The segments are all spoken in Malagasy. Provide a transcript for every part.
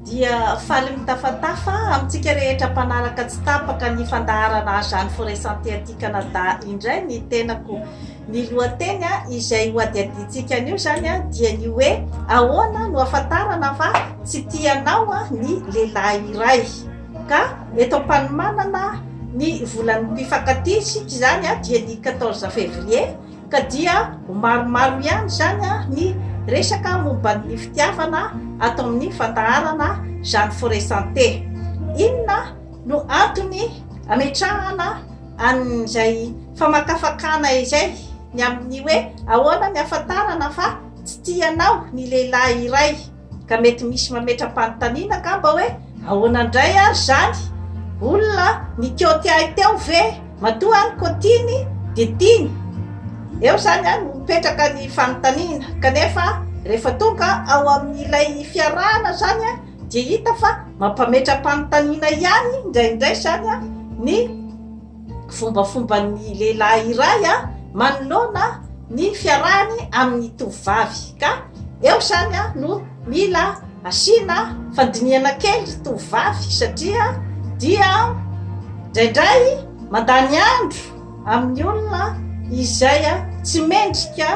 dia faly mitafatafa amintsika rehetra mpanaraka tsy tapaka ny fandaharana Azany Forêt Santé aty Canada indray ny tenako. Ny lohateny izay hohadihadiantsika anio izany dia ny hoe ahoana no afantarana fa tsy tia anao ny lehilahy iray. Ka eto am-panomanana ny volan'ny mpifankatia isika izany dia ny 14 février Ka dia ho maromaro ihany izany ny resaka momba ny fitiavana ato amin'ny fandaharana Jeanne Forêt Santé. Inona no antony ametrahana an'izay famakafakana izay ny amin'ny hoe ahoana ny ahafantarana fa tsy tianao ny lehilahy iray? Ka mety misy mametra-panontaniana angamba hoe, ahoana indray ary izany? Olona nikioty ahy teo ve? Matoa aho nikotiany dia tiany? Eo izany no mipetraka ny fanontaniana. Kanefa rehefa tonga ao amin'ilay fiarahana izany dia hita fa mampametra-panontaniana ihany indraindray izany ny. fombafomban'ny lehilahy iray a manoloana ny fiarahany amin'ny tovovavy ka eo izany a no mila asiana fandinihana kely ry tovovavy satria dia draindray mandany andro amin'ny olona izay a tsy mendrika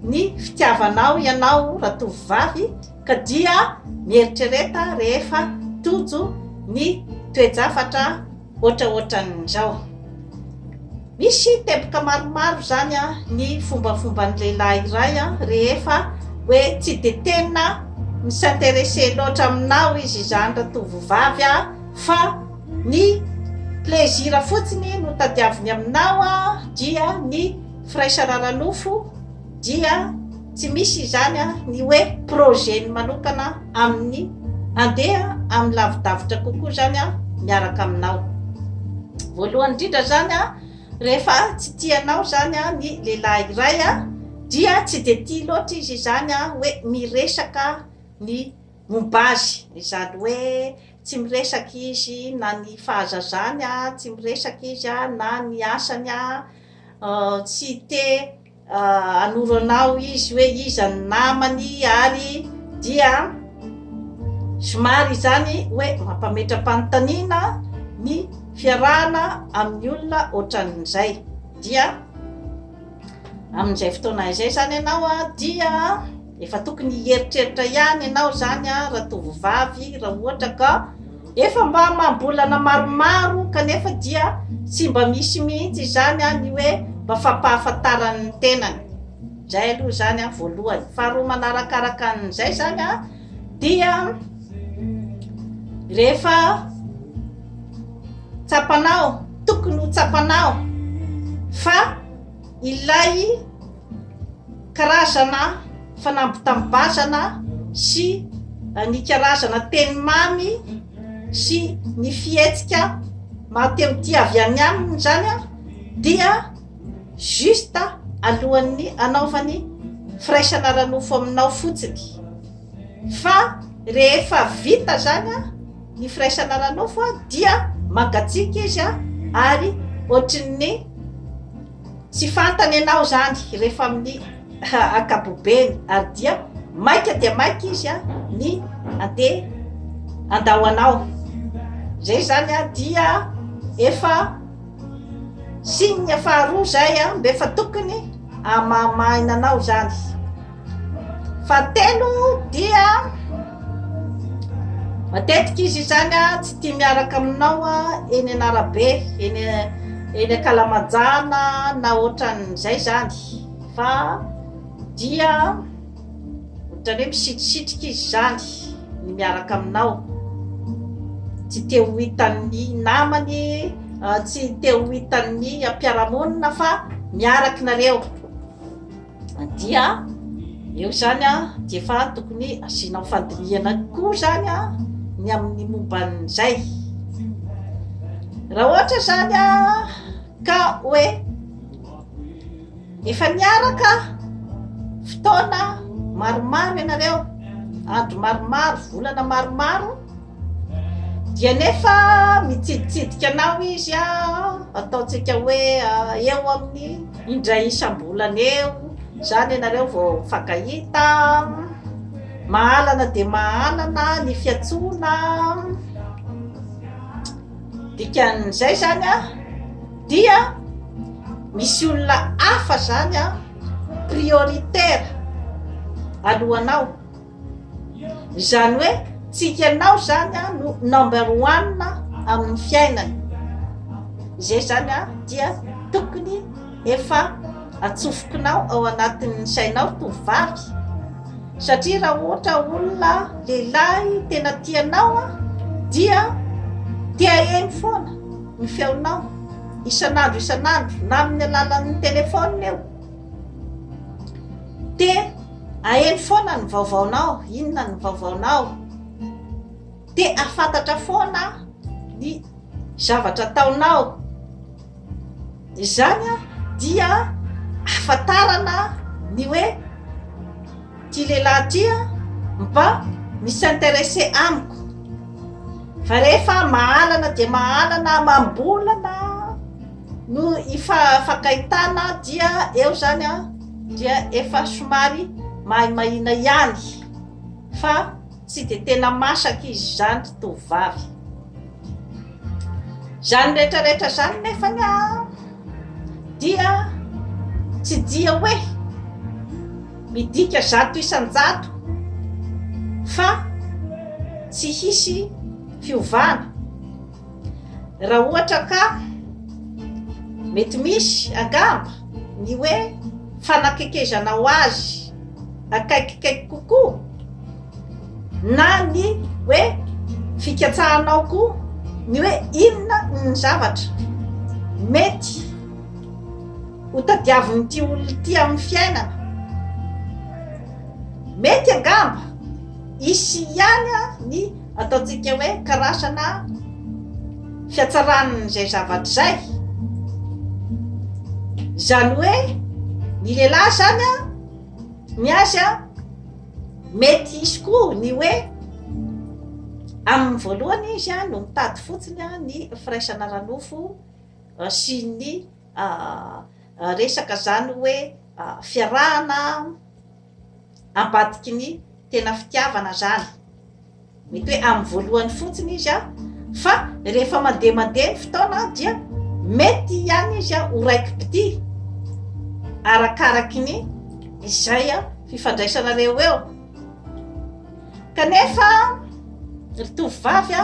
ny fitiavanao ianao raha tovovavy ka dia mieritrereta rehefa tojo ny toejafatra Ohatraohatran'izao. Misy teboka maromaro izany ny fombafomban'ny lehilahy iray rehefa hoe tsy dia tena mi-s'intéresser loatra aminao izy izany ratovovavy fa ny plaisir fotsiny no tadiaviny aminao dia ny firaisana ara-nofo, dia tsy misy izany ny hoe projet-ny manokana amin'ny handeha amin'ny lavidavitra kokoa izany miaraka aminao. Voalohany indrindra izany, rehefa tsy tia anao izany ny lehilahy iray dia tsy dia tia loatra izy izany hoe miresaka ny momba azy, izany hoe tsy miresaka izy na ny fahazazany, tsy miresaka izy na ny asany, tsy te. Hanoro anao izy hoe iza ny namany ary dia somary izany hoe mampametra-panontaniana ny fiarahana amin'ny olona ohatran'izay. Dia amin'izay fotoana izay izany ianao dia... Efa tokony hieritreritra ihany ianao izany ratovovavy raha ohatra ka efa mba amam-bolana maromaro kanefa dia tsy mba misy mihitsy izany ny hoe mba fampahafantarany ny tenany. Izay aloha izany voalohany. Faharoa manarakaraka an'izay izany dia rehefa tsapanao, tokony ho tsapanao fa Ilay karazana fanambitam-bazana sy ny karazana teny mamy sy ny fihetsika mahateho tia avy any aminy izany dia juste alohan'ny anaovany firaisana ara-nofo aminao fotsiny fa rehefa vita izany Ny firaisana ara-nofo dia mangatsiaka izy ary ohatrin'ny tsy fantany ianao izany rehefa amin'ny ankapobeny ary dia maika dia maika izy ny andeha andao anao. Izay izany dia efa signe faharoa izay mba efa tokony hamahamaina anao izany. Fahatelo dia matetika izy izany a tsy tia miaraka aminao a eny an'arabe eny eny an-kalamajana na ohatran'izay zany fa dia ohatran'ny hoe misitrisitrika izy zany ny miaraka aminao tsy te ho hitan'ny namany tsy te ho hitan'ny mpiara-monina fa miaraka nareo dia eo zany a de efa tokony asianao fandinihana koa zany a ny amin'ny momban'izay raha ohatra zany a ka hoe efa niaraka fotoana maromaro ianareo andro maromaro volana maromaro Dia nefa mitsiditsidika anao izy ataontsika hoe eo amin'ny indray isam-bolana eo izany ianareo vao mifankahita, mahalana dia mahalana ny fiantsoana, dikan'izay izany a dia misy olona hafa izany a prioritaire alohanao. Izany hoe tsy hianao izany an no number one amin'ny fiainany. Izay izany an dia tokony efa atsofokinao ao anatin'ny sainao tovovavy. Satria raha ohatra olona lehilahy tena tianao an dia tehaheno foana ny feonao isan'andro isan'andro na amin'ny alalan'ny telefaonina eo. Te aheno foana ny vaovaonao, inona ny vaovaonao? Te ahafantatra foana ny zavatra ataonao? Izany dia ahafantarana ny hoe ity lehilahy ity mba mi-s'intéresser amiko. Fa rehefa mahalana dia mahalana amam-bolana. Noho i Fagaitana dia eo zany an, dia efa somary mahimahina ihany fa tsy dia tena masaka izy izany tovovavy. Izany rehetrarehetra izany nefany an, dia tsy dia hoe midika zato isan-jato fa tsy hisy fiovana. Raha ohatra ka mety misy angamba ny hoe fanakekezanao azy akaikikaiky kokoa na ny hoe fikatsahanao koa ny hoe inona ny zavatra mety ho tadiavin'ity olona ity amin'ny fiainana. Mety angamba hisy ihany ny Ataontsika hoe karazana fiatsaran'izay zavatra izay. Izany hoe ny lehilahy izany a, ny azy a, mety hisy koa ny hoe amin'ny voalohany izy a no mitady fotsiny a ny firaisana ara-nofo sy ny resaka izany hoe fiarahana. ambadiky ny tena fitiavana zany mety hoe amin'ny voalohany fotsiny izy a fa rehefa mandeha mandeha ny fotoana dia mety ihany izy a ho raiki-pitia arakaraky ny izay a fifandraisanareo eo kanefa ry tovovavy a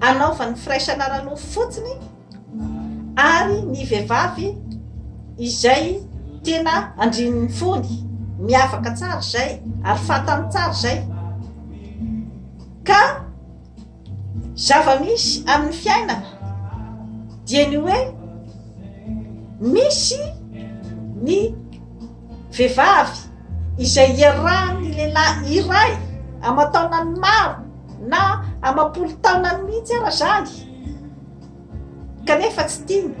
Anaovany firaisana ara-nofo fotsiny ary ny vehivavy izay tena andrin'ny fony, miavaka tsara izay ary fantany tsara izay. Ka zava-misy amin'ny fiainana dia ny hoe misy ny vehivavy izay iarahan'ny lehilahy iray aman-taonany maro Na amam-polo taonany mihitsy ara zany kanefa tsy tiany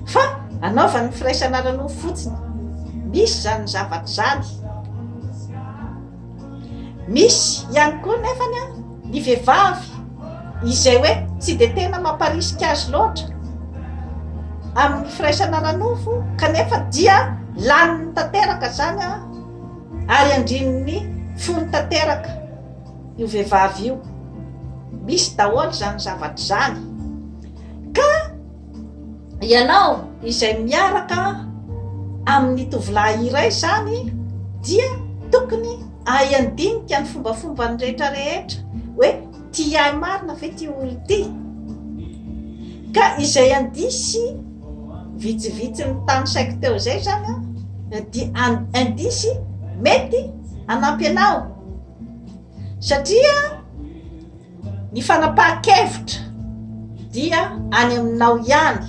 fa anaovany ny firaisana ara-nofo fotsiny. Misy zany zavatra zany. Misy ihany koa nefany an, ny vehivavy izay hoe tsy dia tena mamparisika azy loatra amin'ny firaisana ara-nofo kanefa dia laniny tanteraka zany an, Ary andrininy fony tanteraka io vehivavy io. Misy daholo izany zavatra izany. Ka ianao izay miaraka amin'ny tovolahy iray izany dia tokony ahay handinika ny fombafombany rehetra rehetra hoe tia ahy marina ve ity olona ity? Ka izay handisy Vitsivitsy ny tany saiko teo izay izany an, dia indisy mety hanampy anao. Satria ny fanapahan-kevitra dia any aminao ihany,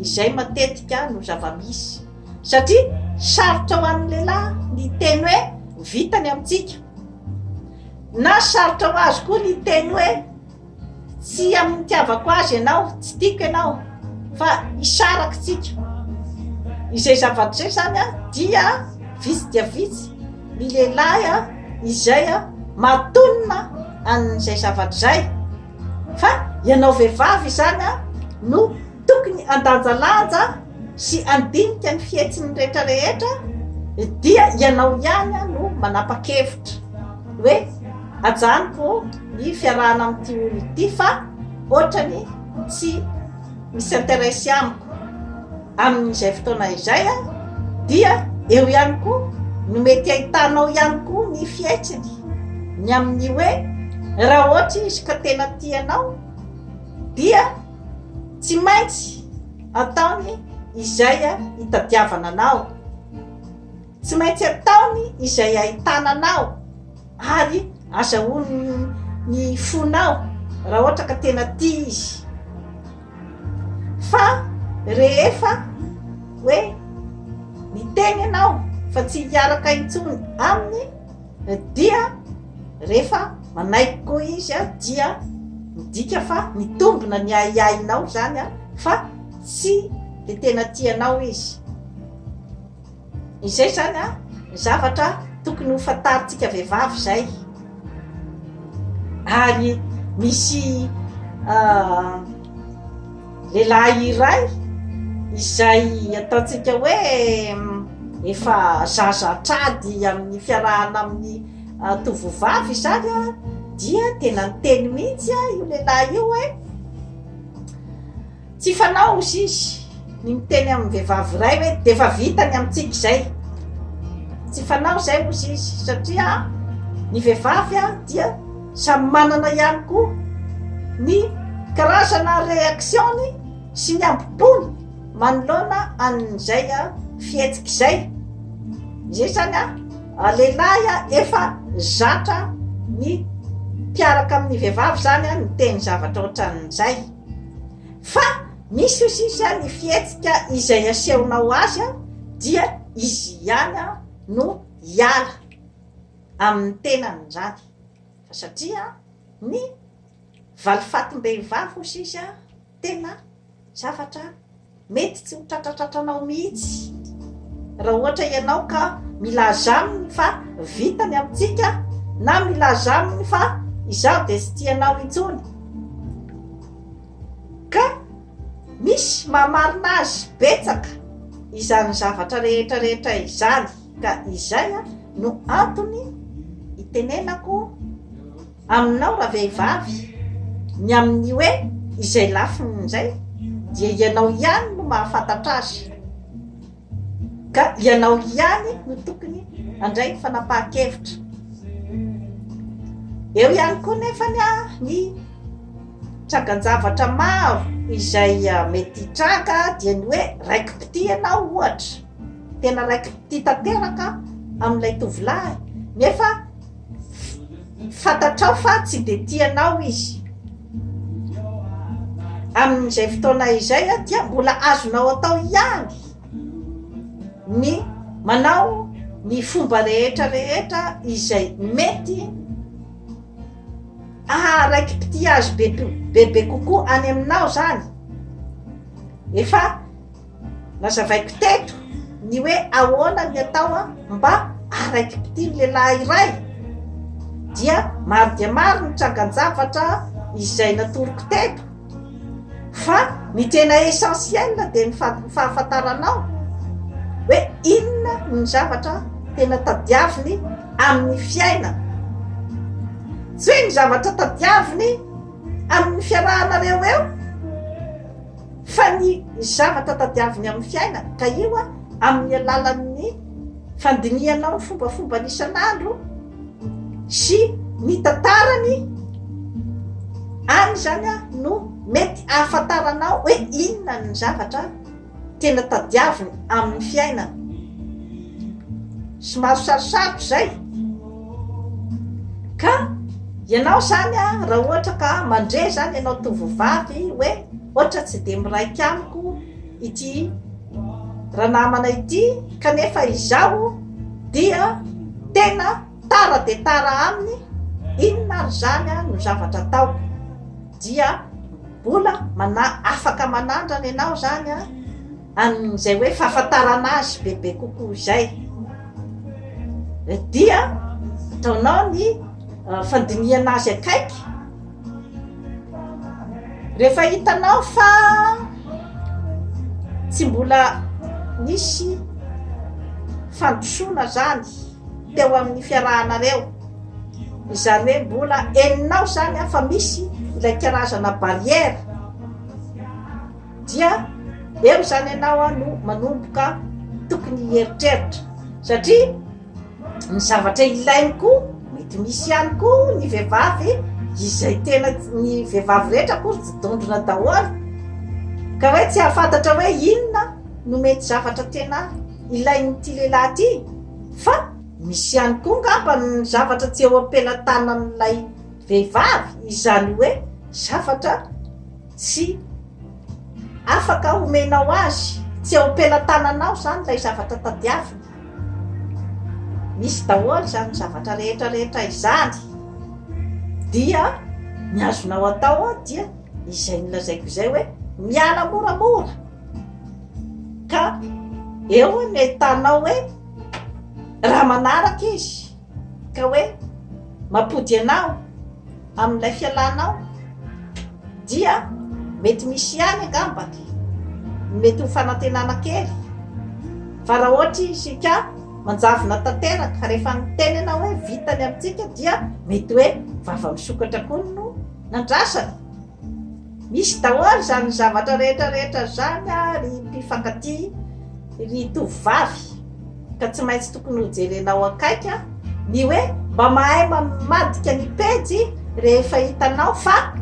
izay matetika no zava-misy. Satria sarotra ho an'ny lehilahy ny teny hoe vitany amintsika. Na sarotra ho azy koa ny teny hoe Tsy amin'ny itiavako azy ianao, tsy tiako ianao, fa hisaraka isika. Izay zavatra izay izany dia vitsy dia vitsy ny lehilahy izay mahatonina an'izay zavatra izay, fa ianao vehivavy izany no. Tokony handanjalanja sy handinika ny fihetsiny rehetra rehetra dia ianao ihany no manapa-kevitra hoe ajanoko ny fiarahana amin'ity olona ity fa ohatrany tsy misy intéresse amiko amin'izay fotoana izay dia eo ihany koa no mety ahitanao ihany koa ny fihetsiny ny amin'ny hoe raha ohatry izy ka tena tia anao dia Tsy maintsy ataony izay itadiavana anao. Tsy maintsy ataony izay ahitana anao ary azahoany ny fonao raha ohatra ka tena tia izy. Fa rehefa hoe miteny ianao fa tsy hiaraka intsony aminy, Dia rehefa manaiky koa izy dia midika fa mitombina ny ahiahinao izany fa tsy dia tena tia anao izy. Izay izany ny zavatra tokony ho fantarintsika vehivavy izay. Ary misy Lehilahy iray izay ataontsika hoe efa zaza an-trady amin'ny fiarahana amin'ny tovovavy izany a, dia tena niteny mihitsy a io lehilahy io hoe tsy fanao hozy izy ny miteny amin'ny vehivavy iray hoe dia efa vita ny amintsika izay, tsy fanao izay hozy izy satria ny vehivavy a dia. Samy manana ihany koa ny karazana reaction-ny sy ny ambompony manoloana an'izay fihetsika izay. Izay izany lehilahy efa zatra ny mpiaraka amin'ny vehivavy izany miteny zavatra ohatran'izay. Fa misy hoy sisa ny fihetsika izay asehonao azy dia izy ihany no hiala amin'ny tenany izany. Fa satria ny valifatim-behivavy hozy izy tena zavatra mety tsy ho tratratratranao mihitsy raha ohatra ianao ka milaza aminy fa vita ny amintsika na milaza aminy fa izaho dia tsy tia anao intsony. Ka misy maha marina azy betsaka izany zavatra rehetra rehetra izany. Ka izay no antony itenenako aminao ravehivavy ny amin'ny hoe izay lafiny izay dia ianao ihany no mahafantatra azy ka ianao ihany no tokony handray fanapahan-kevitra. Eo ihany koa nefa ny ny tragan-javatra maro izay ah, mety hitranga dia ny hoe raiki-pitia ianao ohatra. Tena raiki-pitia tanteraka amin'ilay tovolahy, nefa fantatrao fa tsy dia tia anao izy. Amin'izay fotoana izay dia mbola azonao atao ihany ny manao ny fomba rehetra rehetra izay mety aharaiki-pitia azy bebe kokoa any aminao zany. Efa Nazavaiko teto ny hoe ahoana ny atao mba haraiki-pitia ny lehilahy iray, dia maro dia maro ny trangan-javatra izay natoroko teto, fa ny tena essentiel dia ny fahafantaranao hoe inona ny zavatra tena tadiaviny amin'ny fiainana, tsy hoe ny zavatra tadiaviny amin'ny fiarahanareo eo. Fa ny zavatra tadiaviny amin'ny fiainana, ka io amin'ny alalan'ny fandinihana ao ny fombafombany isan'andro sy ny tantarany any izany no mety ahafantaranao hoe inona ny zavatra tena tadiaviny amin'ny fiainana. Somary sarosarotra izay. Ka ianao izany raha ohatra ka mandre izany ianao tovovavy hoe ohatra tsy dia miraika amiko ity ranamana ity kanefa izaho dia tena tara dia tara aminy inona ary izany no zavatra ataoko dia mbola mana afaka manandrana ianao izany a amin'izay hoe fahafantarana azy bebe kokoa izay dia ataonao ny ah, fandinihana azy akaiky rehefa hitanao fa tsy mbola nisy fandrosoana zany teo amin'ny fiarahanareo izany hoe mbola eninao zany afa misy ilay karazana barrière dia eo izany ianao a no manomboka tokony hieritreritra satria ny zavatra ilainy koa mety misy ihany koa ny vehivavy izay tena ny vehivavy rehetra koa tsy dondrona daholo ka hoe tsy hahafantatra hoe inona no mety zavatra tena ilain'ity lehilahy ty fa misy ihany koa ngamba ny zavatra tsy eo am-pelatanan'ilay vehivavy izany hoe zavatra Tsy afaka homenao azy, tsy eo am-pelatananao izany ilay zavatra tadiaviny. Misy daholo izany zavatra rehetra rehetra izany, dia ny azonao atao dia izay nolazaiko izay hoe miala moramora, ka eo no ahitanao hoe raha manaraka izy. Ka hoe mampody anao amin'ilay fialanao dia mety misy ihany angamba ny mety ho fanantenana kely fa raha ohatra isika manjavona tanteraka fa rehefa niteny ianao hoe vita ny amintsika dia mety hoe vava misokatra koa no nandrasana Misy daholo izany zavatra rehetra rehetra izany ry mpifankatia ry tovovavy ka tsy maintsy tokony ho jerenao akaiky ny hoe mba mahay mamadika ny pejy rehefa hitanao fa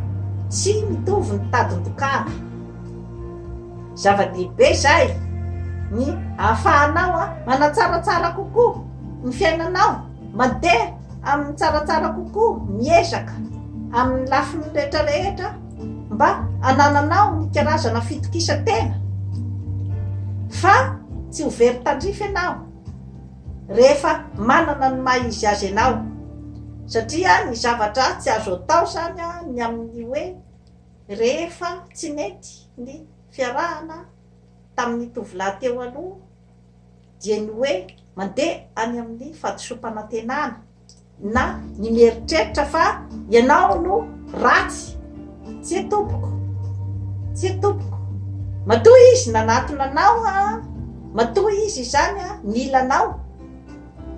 tsy mitovy ny tadin-dokanga. Zava-dehibe izay ny ahafahanao manatsaratsara kokoa ny fiainanao. Mandeha amin'ny tsaratsara kokoa, miezaka amin'ny lafiny rehetrarehetra mba hanananao ny karazana fitokisan-tena fa tsy ho very tandrify ianao rehefa manana ny maha izy azy anao satria ny zavatra tsy azo atao izany ny amin'ny hoe rehefa tsy nety ny fiarahana tamin'ny tovolahy teo aloha dia ny hoe mandeha any amin'ny fahadisoam-panantenana na ny mieritreritra fa ianao no ratsy, tsia tompoko, tsia tompoko, matoa izy nanatona anao an, matoa izy izany an nila anao,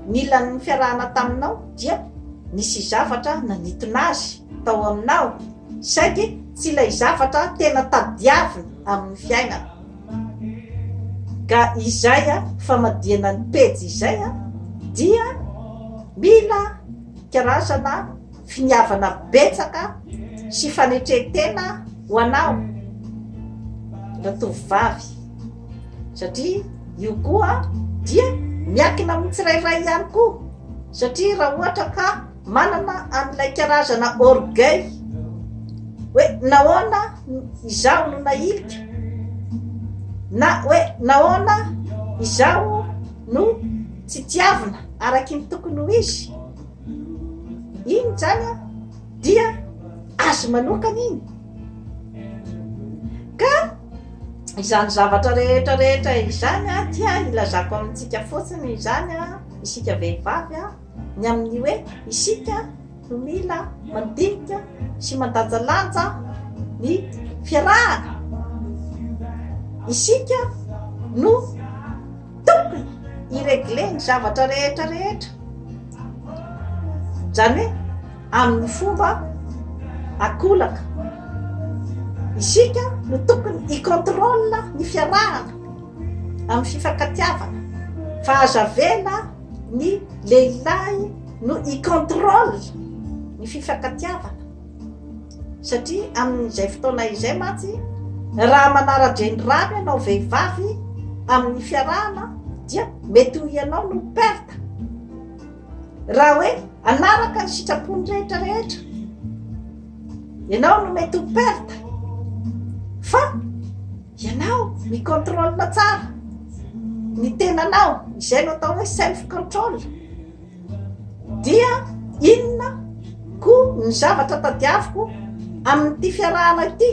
nila ny fiarahana taminao dia nisy zavatra nanitona azy tao aminao, saingy tsy ilay zavatra tena tadiaviny amin'ny fiainana. Ka izay famadihana ny pejy izay dia mila karazana finiavana betsaka sy fanetren-tena ho anao ratovovavy satria io koa dia miankina amin'ny tsirairay ihany koa satria raha ohatra ka Manana an'ilay karazana orgueil hoe nahoana izaho no nahilika na hoe nahoana izaho no tsy tiavina araky ny tokony ho izy iny zany a dia azy manokana iny ka izany zavatra rehetra rehetra izany a dia ilazako amintsika fotsiny izany a isika vehivavy a ny amin'ny hoe isika no mila mandinika sy mandanjalanja ny fiarahana. Isika no tokony hi-regler ny zavatra rehetra rehetra, izany hoe amin'ny fomba an-kolaka. Isika no tokony hi-contrôle ny fiarahana amin'ny fifankatiavana fa aza avela. ny lehilahy no i controle ny fifankatiavana satria amin'izay fotoana izay mantsy raha manara-dreny rano ianao vehivavy amin'ny fiarahana dia mety ho ianao no perte raha hoe anaraka ny sitrapony rehetra rehetra ianao no mety ho perte fa Ianao mi-contrôle tsara ny tenanao, izay no atao hoe self control. Dia inona koa ny zavatra tadiaviko amin'ity fiarahana ity?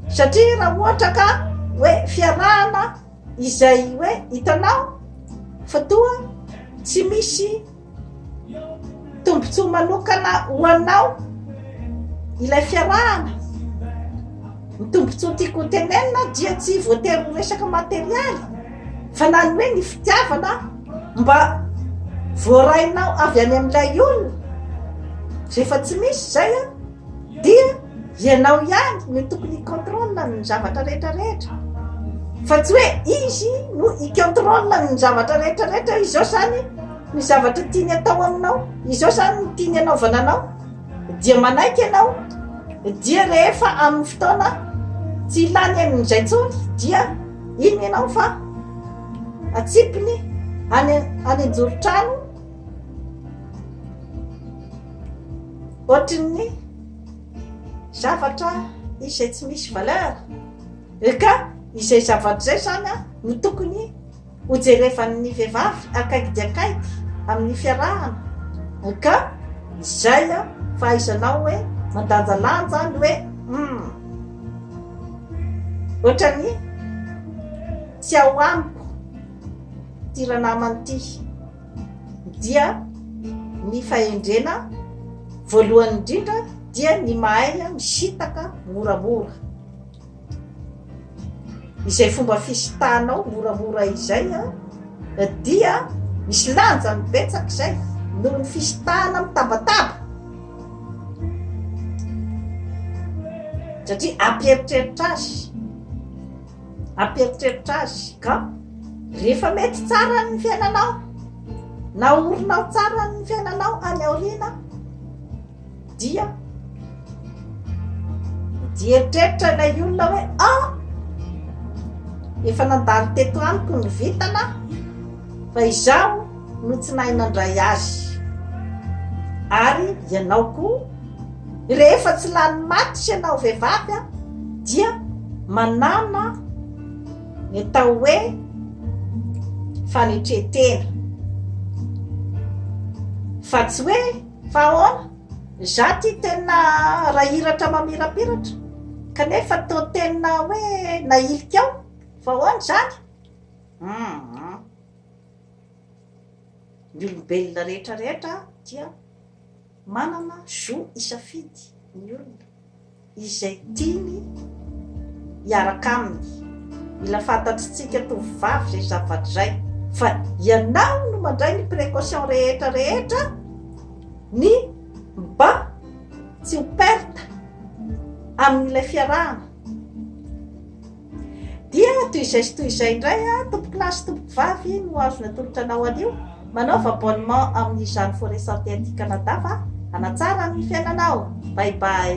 Satria raha ohatra ka hoe fiarahana izay hoe hitanao fa toa tsy misy Tombontsoa manokana ho anao ilay fiarahana. Ny tombontsoa tiako ho tenenina dia tsy voatery ho resaka materialy fa na ny hoe ny fitiavana mba voarainao avy any amin'ilay olona rehefa tsy misy izay an! Dia ianao ihany no tokony hi-contrôle ny zavatra rehetra rehetra fa tsy hoe izy no hi-contrôle ny zavatra rehetra rehetra hoe izao izany ny zavatra tiany atao aminao, izao izany ny tiany hanaovana anao, dia manaiky ianao, dia rehefa amin'ny fotoana tsy ilany an'izay intsony dia inona ianao fa atsipiny any an-joron-trano. ohatrin'ny zavatra izay tsy misy valeur eh, ka izay zavatra izay zany a no tokony hojerevan'ny vehivavy akaiky dia akaiky amin'ny fiarahana eh, ka izay a fahaizanao hoe mandanjalanja ny hoe hmm, ohatran'ny tsy ao amiko ty ranamany ty dia ny fahendrena voalohany indrindra dia ny mahay misitaka moramora izay fomba fisitanao moramora izay dia misy lanjany betsaka izay noho ny fisitahana mitambataba satria ampieritreritra azy Ampieritreritra azy ka rehefa mety tsara ny fiainanao, naorinao tsara ny fiainanao any aoriana, dia mieritreritra ilay olona hoe a ah, efa nandalo teto amiko ny vintana fa izaho no tsy nahay nandray azy ary ianao koa Rehefa tsy lany maty ianao vehivavy dia manana ny atao hoe fanetren-tena. Fa tsy hoe fa ahoana? Za ty tena rahiratra mamirapiratra kanefa toa tena hoe nahilika aho fa ahoana izany? Hum. Ny olombelona rehetra rehetra dia. Manana jour hisafidy ny olona izay tiany hiaraka aminy. Mila fantatritsika tovovavy izay zavatra izay fa ianao no mandray ny precaution rehetra rehetra ny mba tsy ho perte amin'ilay fiarahana. Dia toy izay sy toy izay indray an, tompoko lahy sy tompoko vavy no azo natolotra anao anio, manaova abonnement amin'ny izany Forêt Santé aty Canada fa hanatsara ny fiainanao. Bye bye.